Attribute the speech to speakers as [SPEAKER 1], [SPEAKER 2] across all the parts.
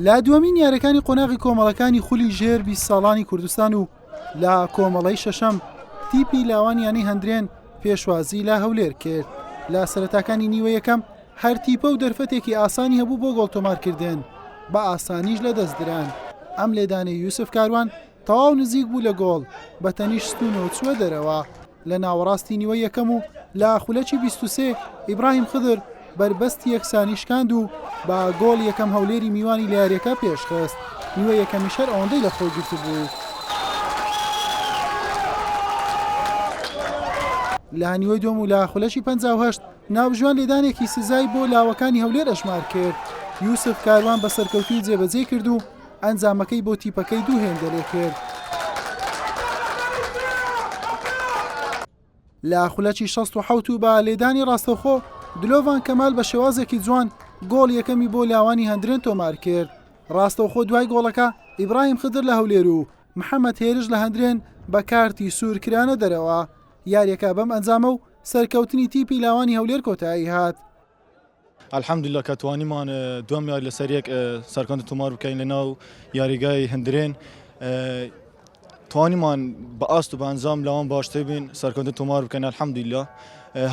[SPEAKER 1] لە دووەمین یاریەکانی قۆناغی کۆمەڵەکانی خولی ژێر بیست ساڵانی کوردستان و لە کۆمەڵەی شەشەم تیپی لاوان یانی هەندرێن پێشوازی لە هەولێر کرد لە سەرتاکانی نیوە یەکەم هەرتیپە و دەرفەتێکی ئاسانی هەبوو بۆ گۆڵتۆمارکردن بە ئاسانیش لە دەستدران ئەم لێدانەی یوسف کاروان تەواو نزیک بوو لە گۆڵ، بە تەنیشت ستوونەوە چووە دەرەوە. لە ناوەڕاستی نیوەی یەکەم و لە خولەکی بیست و سێ ئیبراهیم خدر بەربەستی یەکسانی شکاند و بە گۆڵ یەکەم هەولێری میوانی لە یارییەکە پێشخست، نیوە یەکەمیش هەر ئەوەندەی لە خۆی گرتبوو. لە نیوەی دووەم و لە خولەکی پەنجا و هەشت ناوژوان لێدانێکی سزای بۆ لاوەکانی هەولێر ئەژمار کرد، یوسف کاروان بە سەرکەوتووی جێبەجێی کرد و ئەنجامەکەی بۆ تیپەکەی دوو هێندە لێ کرد. لە خولەکی شەست و حەوت و بە لێدانی ڕاستەوخۆ دلۆڤان کەمال بە شێوازێکی جوان گۆڵ یەکەمی بۆ لاوانی هەندرێن تۆمار کرد. ڕاستەوخۆ دوای گۆڵەکە ئیبراهیم خدر لە هەولێر و محەمەد هێرش لە هەندرێن بە کارتی سوور کرانە دەرەوە. یارییەکە بەم ئەنجامە و سەرکەوتنی تیپی لاوانی هەولێر کۆتایی هات. الحمدللە
[SPEAKER 2] کە توانیمان دووەم یاری لەسەر یەک سەرکەوتن تۆمار بکەین لەناو یاریگای هەندرێن توانیمان بە ئاست و بەنجام لاوان باشتر بین سەرکەوتن تۆمار بکەین الحمدللە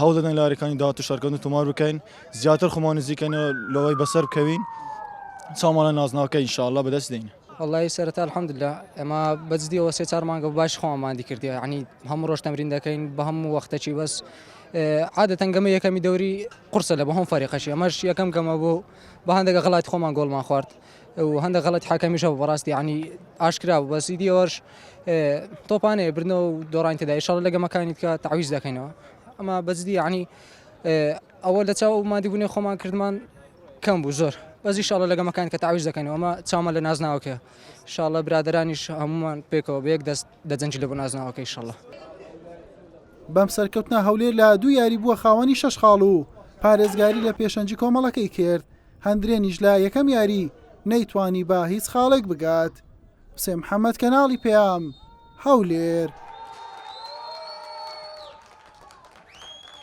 [SPEAKER 2] هەوڵ دەدەن لارەکانی داات و سەرکەوتن تۆمار بکەین زیاتر خۆمان نزیکەنەوە لەوەی بەسەر بکەوین چاوانە نازناوەکە ئینشاءاللە بەدەست دێین واللهی سەرەتا
[SPEAKER 3] الحمدللە ئەمە بەجدیەوە سێ چار مانگە باش خۆماندی کردی عنی هەموو ڕۆژ تەمرین دەکەین بە هەموو وەختەکی بەس عادەتەنگەمە یەکەمی دەوری قورسە لە بۆ هەموو فەریقەشی ئەمەش یەکەم گەمە بۆ بە هەندێک غڵاتی خۆمان گۆڵمان خوارد و هەندێک غڵەتی حەکەمیشە بۆ بەڕاستی یعنی ئاشکرا بوو بەسی دیەوەش تۆپانەیە بردنەوە و دۆڕانی تێدا ئیشەڵ لە گەمەکانی کە تعویز دەکەینەوە ئەمە بەجدی یعنی ئەوە لە چاو و مادیبوونی خۆمان کردمان کەم بوو زۆر بەزی شاڵە لە گەمەکان کە تعویز دەکەینەوە ئەمە چاومان لە نازناوکە شاڵە برادرانیش هەمومان پێکەوە بەیەک دەست دەجەنگی لەبۆ نازناوەکە ئیشەڵا.
[SPEAKER 1] بەم سەرکەوتنە هەولێر لە دوو یاری بووە خاوەنی شەش خاڵ و پارێزگاری لە پێشەنگی کۆمەڵەکەی کرد، هەندرێنیش لە یەکەم یاری نەیتوانی بە هیچ خاڵێک بگات. حوسێن محەمەد کەناڵی پەیام، هەولێر.